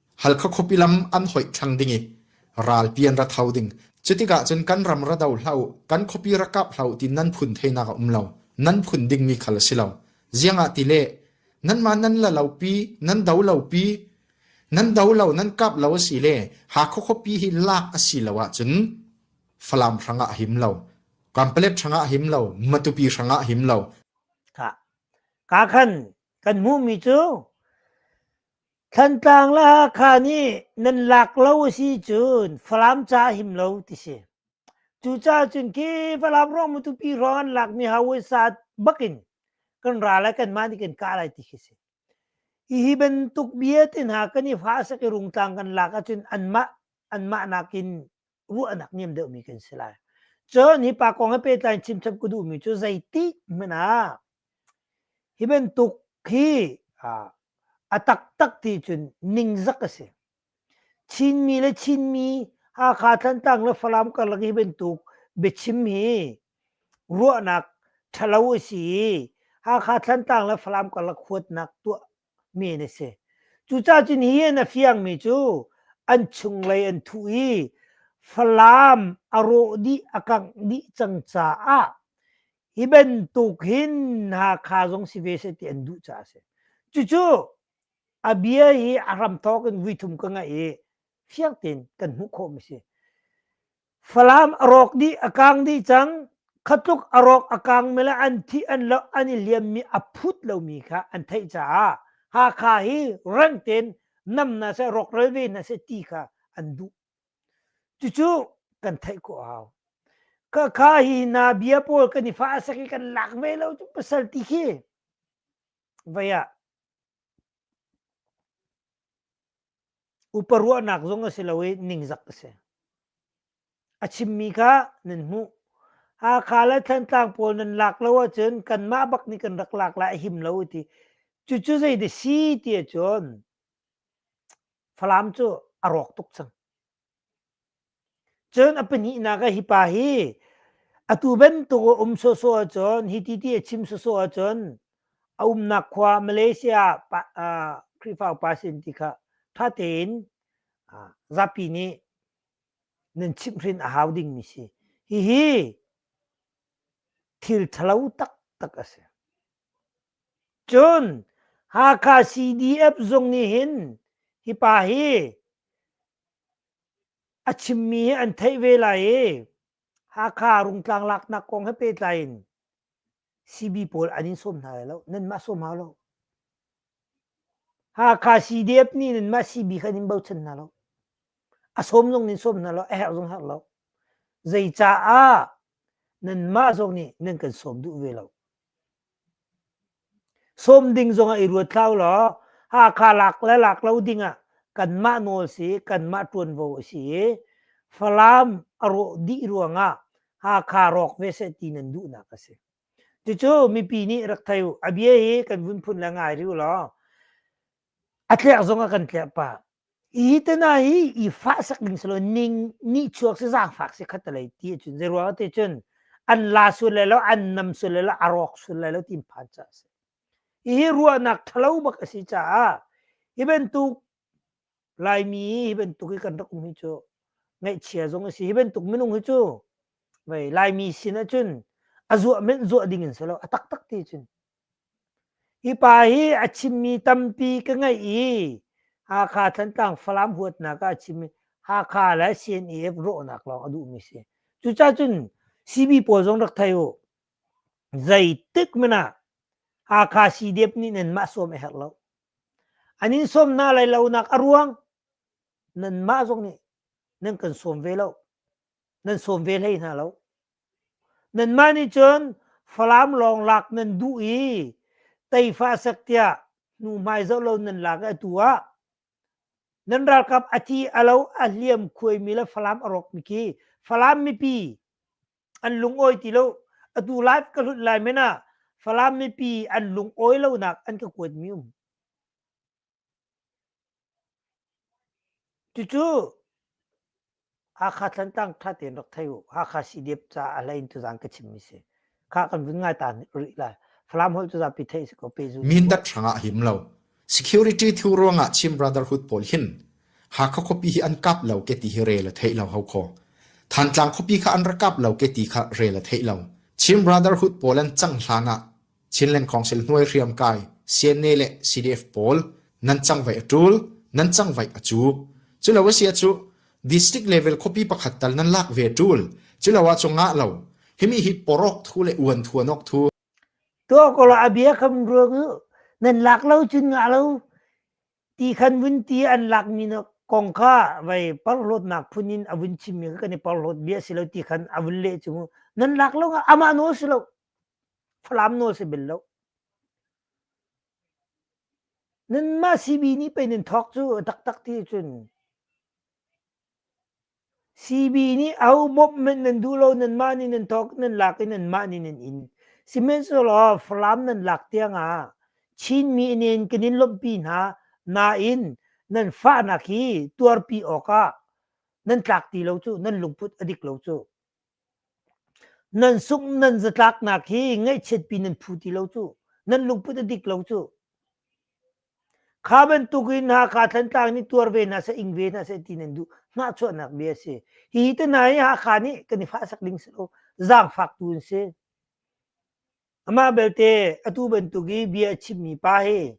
Speaker 2: Halkha khuapi lam an hoih ṭhang ding i ralpi an ra tho ding. Cutikah cun kan ram ra do hlah u, kan khuapi ra kap hlah u ti nan phun theinak a um lo. Nan phun dingmi khal a si lo. Ziangah ti le nanmah nan la lopi, nan do lopi, nan do lo, nan kap lo a si le Hakha khuapi hi lak a si lo ahcun Falam hrangah a him lo. Kampalet hrangah a him lo. Matupi hrangah a him lo.
Speaker 1: Ka khan kan hmuhmi cu Thantlang le Hakha nih nan lak lo a si cun Falam ca him lo ti si. Cucaah cun khi Falam ruang Matupi ruang an lakmi hausa bakin kan ra lai kanmah nih kan kah lai ti khi si. Hihi bantuk vialte hna kan i fah sak i Rungtlang kan lak ahcun anmah anmah nakin ruahnak niam deuhmi kan si lai cun hi pa kong a pehtlai chimchap ka duhmi cu zeitik hmanh ah hi bantuk hi a taktak ti cun ningzak a si chinmi le chinmi hakha thlantlang le falam karlak hi bantuk biachim hi ruahnak ṭhalo a si i hakha thlantlang le falam karlak huatnak tuah mi an si. Cucaah cu nihin a fiangmi cu an chunglei an thuh i Falam a rawh dih a kangh dih cang caah hi bantuk hin Hakha zong si ve seh ti an duh caah a si. Cucu a bia hi a hramthawk in vui thum ka ngaih i fiang tein kan hmuh khawhmi si. Falam a rawk dih a kaang dih cang. Kha tluk a rawk a kaang me le an thih an lo an i liammi a phut lomi kha an theih caah Hakha hi rang tein nam hna seh rawkral ve hna seh ti kha an duh. Cucu kan theih khawh a hau. Ka kha hi na bia pawl kan i fah sak i kan lak ve lo cu pasal ti khi. Vaya. Upa ruahnak zong a si lo i ningzak a si. A chimmi kha nan hmuh. Hakha le Thantlang pawl nan lak lo ahcun kanmah bak nih kan rak lak lai a him lo a ti. Cucu zei de si ti ahcun Falam cu a rawk tuk cang. Cun a pahnihnak ah hi pa hi atu bantuk a um sawhsawh ahcun hi ti ti a chim sawhsawh ahcun a umnak khua Malaysia Khrihfa upa sin ti kha ṭha tein zapi nih nan chimhhrin a hau dingmi si. Hihi thil ṭhalo taktak a si. Cun Hakha CDF zung nih hin hi pa hi a chimmi hi an theih ve lai i Hakha rungtlang laknak kong he pehtlai in CB pawl an in sawm hna lai lo, nanmah sawm hau lo. Hakha CDF nih nanmah CB kha nan bochan hna lo. A sawm zong nan sawm hna lo, a herh zong herh lo. Zeicaah nanmah zong nih nan kan sawm duh ve lo. Sawm ding zongah i ruat hlah ulaw Hakha lak le lak lo dingah kanmah nawl si i kanmah ṭuanvo a si i Falam a rawh dih ruangah Hakha rawk ve seh ti nan duhnak a si. Cucu mipi nih rak thei u. A bia hi kan vun phun le ngai rih ulaw A tlerh zong a kan tlerh pah. Hi te hna hi i fah sak ning selaw ning nihchuak si zaangfak si khat lei ti ahcun zei ruang ah ti cun an la sul lai lo an nam sul lai lo a rawk sul lai lo ti phan ca a si. Hihi ruahnak ṭhalo bak a si caah hi bantuk Laimi hi bantuk hi kan rak um hi cu ngaihchia zong a si. Hi bantuk minung hi cu vei Laimi sin ahcun a zuah menh zuah ding in selaw a taktak ti cun Hi pa hi a chimmi tampi ka ngeih i Hakha Thantlang Falam huatnak ah a chim i Hakha le CNEF rawhnak lawng a duhmi a si. Cucacun CB pawl zong rak thei u. Zeitik hmanh ah Hakha CDF nih nan mah sawm a herh lo. An in sawm hna lai lonak a ruang nan mah zong nih nan kan sawm ve lo. Nan sawm ve hlei hna lo. Nanmah nih cun Falam lawng lak nan duh i tefa sak tiah hnuhmai zoh lo nan lak i atu ah nan ralkap a thi a lo a hliam khuaimi le Falam a rawkmi khi Falam mipi an lungawi ti lo atu live ka hlut lai men ah Falam mipi an lungawi lonak an ka kuatmi um. Cucu Hakha Tlantlang ṭha tein rak thei u. Hakha CDF caah a hlei in tuzaan ka chimmi si. Kha kan vun ngai ta rih lai. Falam holh cu zapi theih si ko pehzul. Mindat hrangah him lo.
Speaker 2: Security thu ruangah Chin Brotherhood pawl hin Hakha khuapi hi an kap lo ke ti hi rel a theih lo hau kho. Thantlang khuapi kha an ra kap lo ke ti kha rel a theih lo. Chin Brotherhood pawl an cang hlan ah Chinland Council hnuai hriamkai, CNA le CDF pawl nan cangvaih a ṭul, nan cangvaih a cuk. Culo a si cu district level khuapi pakhat tal nan lak ve ṭul. Culo ah cu ngah lo. Himi hi porawk thu le uan thuanawk thu. Tuah ko
Speaker 1: la a bia kam ruang u nan lak lo cun ngah lo ti khan vun ti an lak mi na kong kha vai parhlawtnak phun in a vun chim mi kha kan i parhlawt bia si lo ti khan a vun leh chung u nan lak lo nga amah nawl si lo Falam nawl si bel lo. Nanmah CB nih pei nan thawk cu taktak ti cun CB nih a ho mop hmanh nan duh lo nanmah nih nan thawk nan lak i nanmah nih nan in sihmanhsehlaw Falam nan lak tiangah Chinmi nen kan in lawmhpi hna nain nan fahnak hi tuarpi awkah nan tlak ti lo cu nan lungput a dik lo cu. Nan sungh nan zatlaknak hi ngaihchiatpi nan phu ti lo cu. Nan lungput a dik lo cu. Kha bantuk in Hakha Thantlang nih tuar ve hna seh, ing ve hna seh ti nan duh. Hnahchuahnak bia a si. Hihi te hna hi Hakha nih kan i fahsak ding si lo. Zaangfaktu an si. Amah belte atu bantuk i bia a chimmi pa hi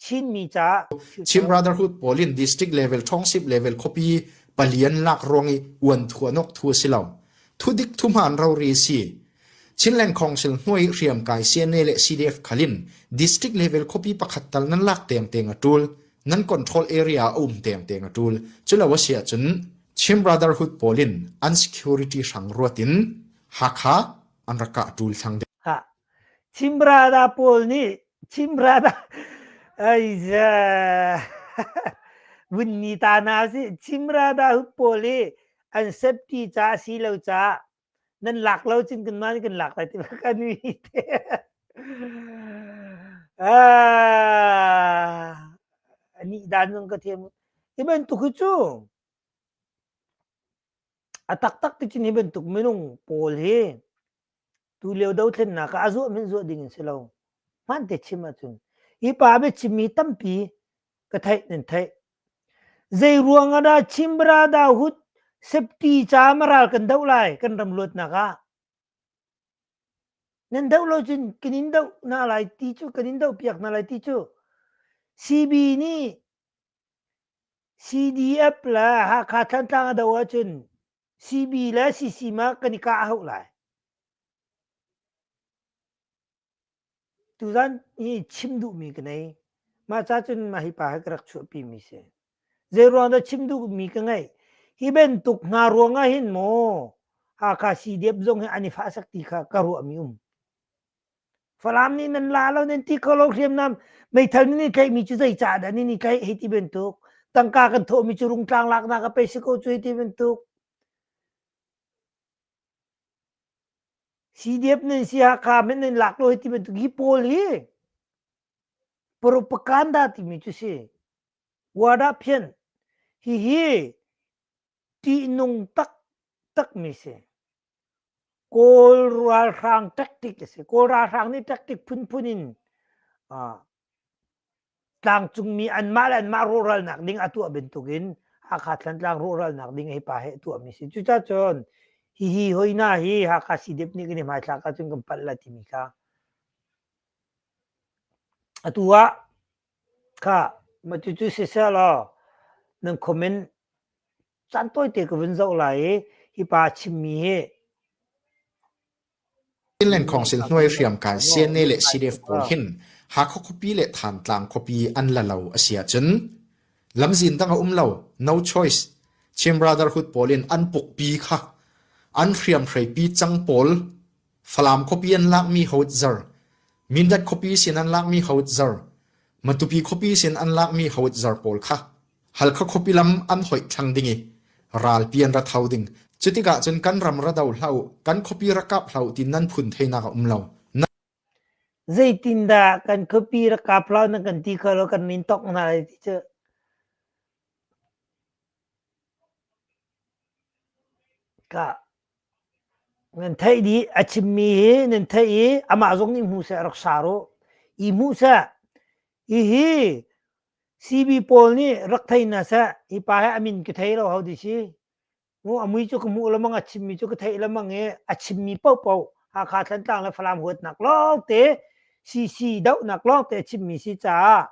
Speaker 1: Chinmi caah Chin Brotherhood
Speaker 2: pawl in district level, township level khuapi pali an lak ruang i uan thuanawk thu a si lo. Thudik thuhmaan rori a si. Chinland Council hnuai hriamkai CNA le CDF khalin district level khuapi pakhat tal nan lak tiangteng a tul. Nan control area a um tiangteng a tul. Culo a si ahcun Chin Brotherhood pawl in unsecurity hrang ruatin Hakha an rak kah ṭul thlang deuh. Khah,
Speaker 1: Chimrana pawl nih Chimrana aiza vunni ta hna si Chimrana hu pawl hi an septi caah si lo caah nan lak lo cun kan mah nih kan lak lai ti kan mi te ah nih dan zong ka thiam hi bantuk hi cu A taktak tikin hi bantuk minung pawl hi tulio dothlennak ah a zuah min zuah ding in si lo. Hmaan te chim ahcun hi pa biachim mi tampi ka theih nan theih. Zei ruangah dah Chimbra Dahut septi ca maral kan doh lai kan ram luatnak ah. Nan doh lo cun kan in doh na lai ti cu kan in doh piak na lai ti cu. CB nih CDF le Hakha Thantlang a doh ahcun CB le CCM ah kan i kah a hauh lai. Tuzan i chim duhmi ka nei. Mah ca cun mah hi pa hi ka rak chuahpimi si. Zeiruang dah chim duhmi ka ngei. Hi bantuk hna ruang ah hin maw Hakha CDF zong hi an i fah sak ti kha ka ruahmi um. Falam nih nan la lo nan ti ko lo hriamnam meithal nan in tlaihmi cu zeicah dah nan in tlaih hei ti bantuk tangka kan thawhmi cu rungtlang laknak a pei si ko cu hei ti bantuk CDF nan si Hakha men nan lak lo hei ti bantuk hi pawl hi propaganda timi cu si wada phian hihi ṭihnung taktakmi si Kawl ralhrang tactic a si. Kawl ralhrang nih tactic phunphun in tlangcungmi anmah le anmah rawhralnak ding a tuah bantukin Hakha Thantlang rawhralnak ding hi pa he a tuahmi si. Cucacun hihi hoihna hi Hakha CDF nih kan i hmaithlak ahcun kan palh la timi kha atu ah kha mah cucu siseh law nan comment Caan tawite ka vun zoh lai i hipa chimmi hi
Speaker 2: Chinland Council hnuai hriamkai CNA le CDF pawl hin Hakha khuapi le Thantlang khuapi an la lo a si ahcun lamzin dang a um lo no choice Chin Brotherhood pawl in an pukpi kha an hriamhrei pi cang pawl Falam khuapi an lakmi hawt zar, Mindat khuapi sin an lakmi hawt zar, Matupi khuapi sin an lakmi hawt zar pawl kha Halkha khuapi lam an hoih thlang ding i ralpi an ra tho ding. Cutikah cun kan ram ra do hlah u, kan khuapi ra kap hlah u ti nan phun theinak a um lo.
Speaker 1: Zeitindah kan khuapi rak kap hlah na kan ti kha lo kan nin tok hna lai ti cu. Ka Nan theih dih a chimmi hi nan theih i amah zong nih hmu seh rak sa ruh. I hmuh seh. Hihi CB pawl nih rak thei hna seh. Hi pa hi a min ka thei lo ho ti si. Mu a mui cu ka hmuh lengmang, a chimmi cu ka theih lengmang i a chimmi paohpaoh Hakha Thantlang le Falam huatnak lawngte, CC dohnak lawngte a chimmi si caah.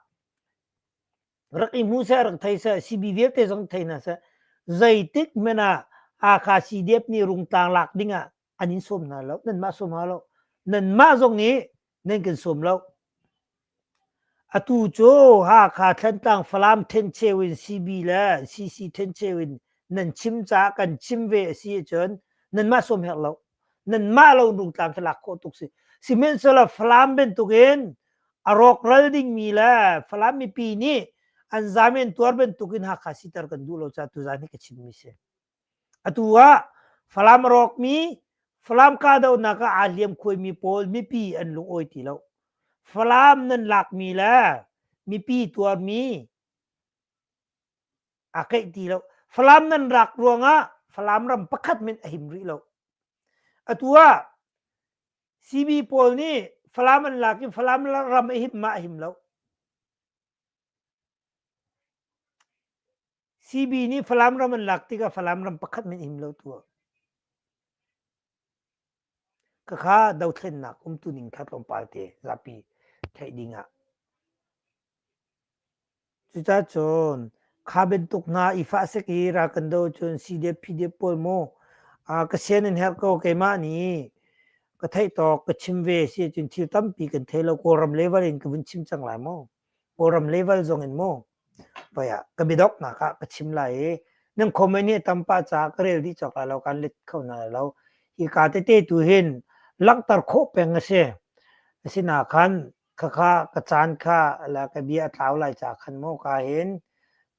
Speaker 1: rak i hmu seh rak thei seh sibi vialte zong thei hna seh zeitik men ah Hakha CDF nih rungtlang lak ding ah an in sawm hna lo nan mah sawm hna lo nan mah zong nih nan kan sawm lo atu cu Hakha Thlantlang Falam thencheu in CB le CC thencheu in nan chim caah kan chim ve a si ahcun nan mah sawm her lo nanmah lo nu tlang khi lak khawh tuk si sihmanhsehlaw Falam bantukin a rawkral dingmi le Falam mipi nih an zamen tuar bantukin Hakha sitar kan duh lo caah tuzan hi ka chimmi si atu ah Falam rawkmi Falam kahdohnak ah aa hliam khuaimi pawl mipi an lungawi ti lo Falam nan lakmi le mipi tuarmi a keih ti lo falam nan rak ruangah falam ram pakhat min a him rih lo atu ah CB pawl nih falam an lak in falam ram a him ma a him lo CB nih falam ram an lak tikah falam ram pakhat min him lo tu Khakha dothlennak umtu ning kha tlawmpal te zapi theih ding ah. Cucacun kha bantuk hna i fah sek i ra kan do cun CDF PDF pawl mu ka sian in herh ko keimah nih ka theih tawk ka chim ve si cun thil tampi kan thei lo. Kawlram level in ka vun chim cang lai mu. Kawlram level zong in mu. Poi ah ka biadoknak ah ka chim lai i nan comment hi a tam pah caah ka rel dih cawk lai lo, kaan let kho hna lai lo. Hi ka tete tu hin langhter khawh peng a si. Asinain khakha ka caan kha le ka bia a tlau lai caah khan maw ka hin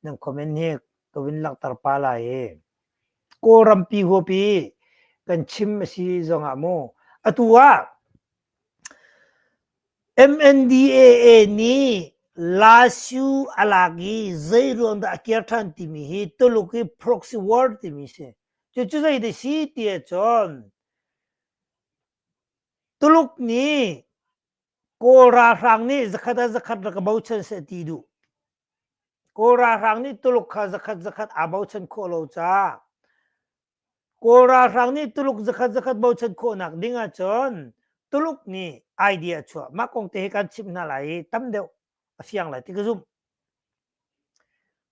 Speaker 1: nan comment hi ka vun langhter pah lai i Kawlrampi huapi kan chim a si zongah maw atu ah MNDAA nih LSU a lak i zeiruang dah a kir ṭhan timi hi Tuluk i proxy war timi a si. Cucu zeidah si ti ahcun Tuluk nih Kawl ralhrang nih zakhat ah zakhat rak i bochan seh ti duh. Kawl ralhrang nih Tuluk kha zakhat zakhat aa bochan khawh lo caah Kawl ralhrang nih Tuluk zakhat zakhat bochan khawhnak ding ahcun Tuluk nih idea a chuah. Mah kong te hi kan chimh hna lai i tam deuh a fiang lai ti ka zumh.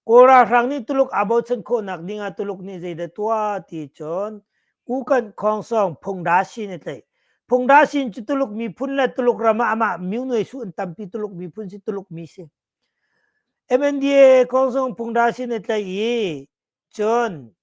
Speaker 1: Kawl ralhrang nih Tuluk aa bochan khawhnak ding ah Tuluk nih zeidah tuah ti cun Kukan Khongsong Phungdasin a tlaih. Phungdasin cu Tuluk miphun le Tuluk ram ah amah myu nuaisu an tampi Tuluk miphun si Tuluk mi si. MNDA Khongsong Phungdasin a tlaih i cun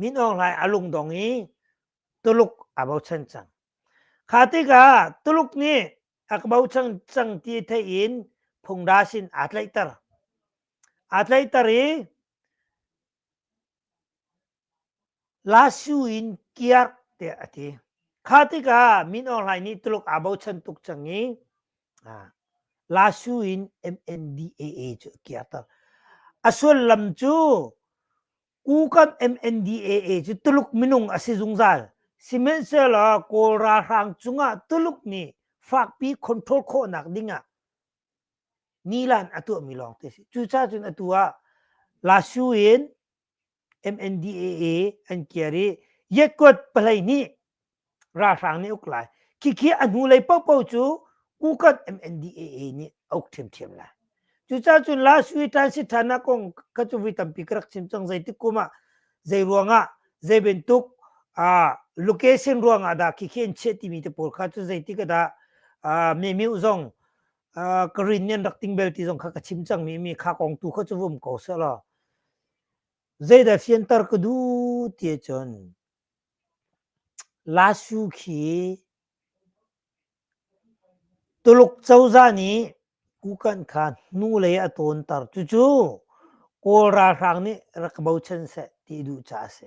Speaker 1: Min Aung Hlaing a lungdong i Tuluk aa bochan cang. Kha tikah Tuluk nih a bochan cang ti theih in phungda sin aa tlaihter. Aa tlaihter i La Suu in kiar tiah a ti. Kha tikah Min Aung Hlaing nih Tuluk aa bochan tuk cang i Lasu in MNDAA cu a kirter. A sullam cu Kukan MNDAA cu Tuluk minung a si zungzal. Sihmanhsehlaw Kawl ralhrang cungah Tuluk nih fakpi control khawhnak dingah nilan a tuahmi lawng te a si. Cucacun atu ah Lasu in MNDAA an kiar i Yekut palei nih ralhrang nih uk lai khikhi a hnu lei popo cu ukot MNDAA nih a uk ṭhiamṭhiam lai cucaah cun la sui ṭan si ṭhan ah kong ka cu vui tampi ka rak chim cang zeitik kum ah zei ruangah zei bantuk location ruangah dah khikhi an chiah timi te pawl kha cu zeitik ah dah Memiu zong ka rin nian rak ting bel ti zong kha ka chim cang mi mi kha kong tu kha chu vum ko se la zeidah fiantar ka du ti cun lasu khi tuluk choza nih kukan kha nu lei a tawn tar cucu kawl ralhrang nih rak bochan se ti duh ca a si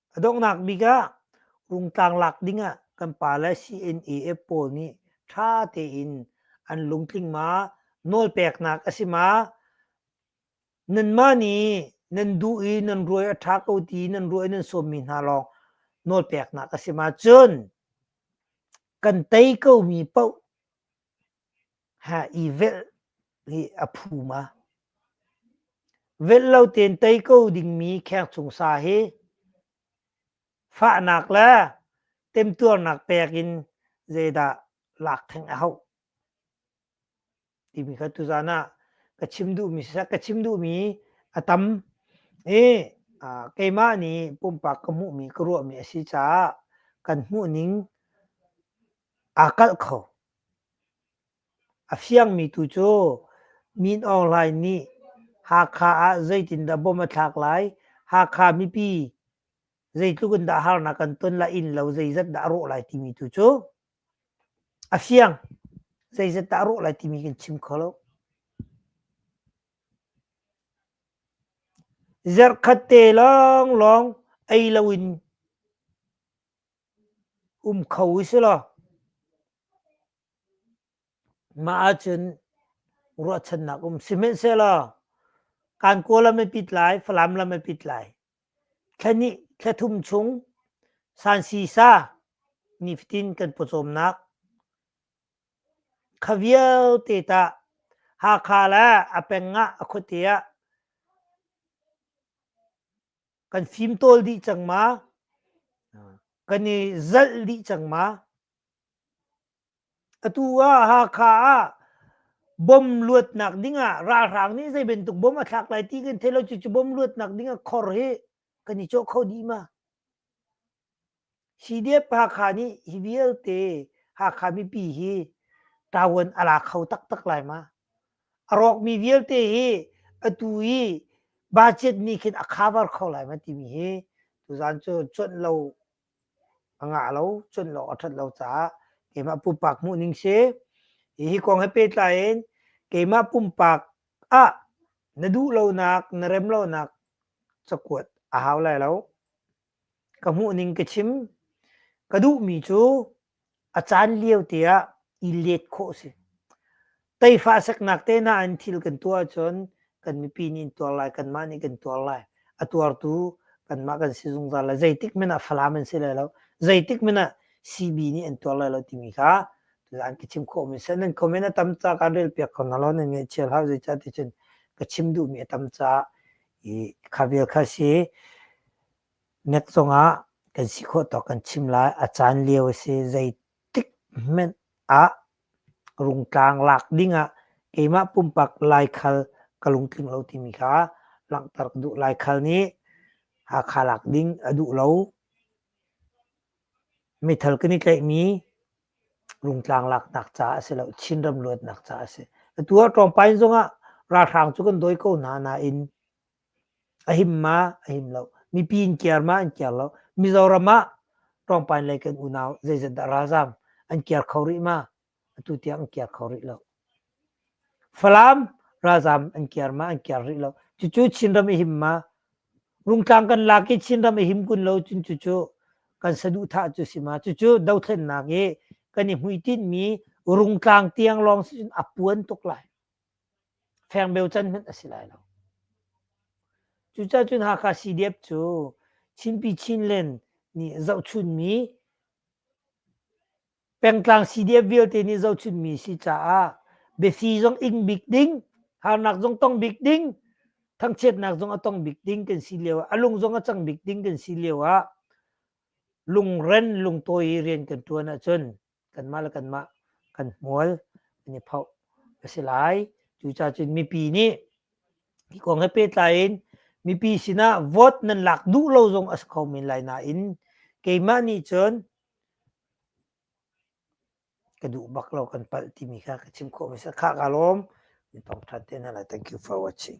Speaker 1: A donghnak bik ah rungtlang lak ding ah kan pa le CNAF pawl nih ṭha tein an lungtling ma, nawlpeknak a si ma, nanmah nih nan duh i nan ruai a ṭha ko ti nan ruai nan sawmmi hna lawng nawlpeknak a si ma cun kan tei komi paoh Ha i velh hi a phum a velh lo tein tei ko dingmi khek chung sa hi fahnak le temtuarnak pek in zeidah lak theng a hauh timi kha tuzan ah ka chim duhmi sisa ka chim duhmi a tam i keimah nih pumpak ka hmuhmi ka ruahmi a si caah kan hmuhning Aa kalh kho. A fiangmi tu cu Min Aung Hlaing nih Hakha ah zeitindah bom a thlak lai, Hakha mipi zeitluk in dah harnak an ton lai, innlo zeizat dah a rawh lai timi tu cu a fiang. Zeizat dah a rawh lai timi kan chim kho lo. Zarh khat te lawnglawng ei lo in Um kho usilaw mah ahcun ruahchannak um. Sihmanhsehlaw kan Kawl lam a pit lai, Falam lam a pit lai. Thla hnih, thla thum chung sansisa nifatin kan pawcawmnak. Kha vialte tah Hakha le a peng ah a khuate ah kan fim tawl dih cang ma? kan i zalh dih cang ma? Atu ah Hakha ah bom luatnak ding ah ralhrang nih zei bantuk bom a thlak lai ti kan theih lo cucu bom luatnak ding ah khor hi kan i cawh kho dih ma? Sidiap Hakha nih hi vialte Hakha mipi hi ṭavuan a la kho taktak lai ma? A rawkmi vialte hi atu i budget nih khin a khabar kho lai ma timi hi tuzan cu cuanh lo a ngah lo, cuanh lo a ṭhat lo caah keimah pumpak hmuhning si. Hihi kong he pehtlai in keimah pumpak ah na duh lonak, na rem lonak cakuat a hau lai lo. ka hmuhning ka chim. Ka duhmi cu a caan lio te ah i let khawh a si. Teifah seknak tehna in thil kan tuah ahcun kan mipi nih an tuar lai, kanmah nih kan tuar lai. A tuartu kanmah kan si zungzal lai. Zeitik hmanh ah Falam an si lai lo. Zeitik hmanh ah CB nih an tuar lai lo timi kha an ka chim khawhmi a si. Nan comment a tam caah kan relpiak ko hna law nan ngaihchia hlah. Zeicahtiah cun ka chim duhmi a tam caah i kha vial kha si nek cungah kan si khawh tawk kan chim lai a caan lio a si zeitik hmenh ah rungtlang lak dingah keimah pumpak laikhal ka lungtling lo timi kha langhter ka duh laikhal nih Hakha lak ding a duh lo. Mithal kan i tlaihmi Rungtlang laknak ca a si lo, Chinram luatnak ca a si. Atu ah Ṭawngpain zongah ralhrang cu kan dawi ko hna nain a him ma a him lo. Mipi in kiar ma an kiar lo. Mizoram ah Ṭawngpain lei kan unau zeizat dah ralzaam an kiar kho rih ma? Atu tiang an kiar kho rih lo. Falam ralzaam an kiar ma an kiar rih lo. Cucu Chinram a him ma. Rungtlang kan lak i Chinram a him kun lo cun cucu kan saduhthah cu si ma. Cucu dothlennak i kan i hmuitinhmi rungtlang tiang lawng si cun a puan tuk lai. Fengbeu can hmanh a si lai lo. Cucah cun Hakha CDF cu Chinpi Chinland nih zohchunmi Pengtlang CDF vialte nih zohchunhmi si caah biasi zong ing bik ding, harnak zong tong bik ding, thangchiatnak zong a tong bik ding kan si lio ah, a lung zong a cang bik ding kan si lio ah lungren lungtawi rian kan ṭuan ahcun kanmah le kanmah kan hmual kan i phoh a si lai. Cucacun mipi nih hi kong he pehtlai in mipi sinah vote nan lak duh lo zong a si kho men lai nain keimah nih cun Ka duh bak lo kan palh timi kha ka chim khawh hmasa. Khah kaa lawm. Mi thawngṭha te hna lai. Thank you for watching.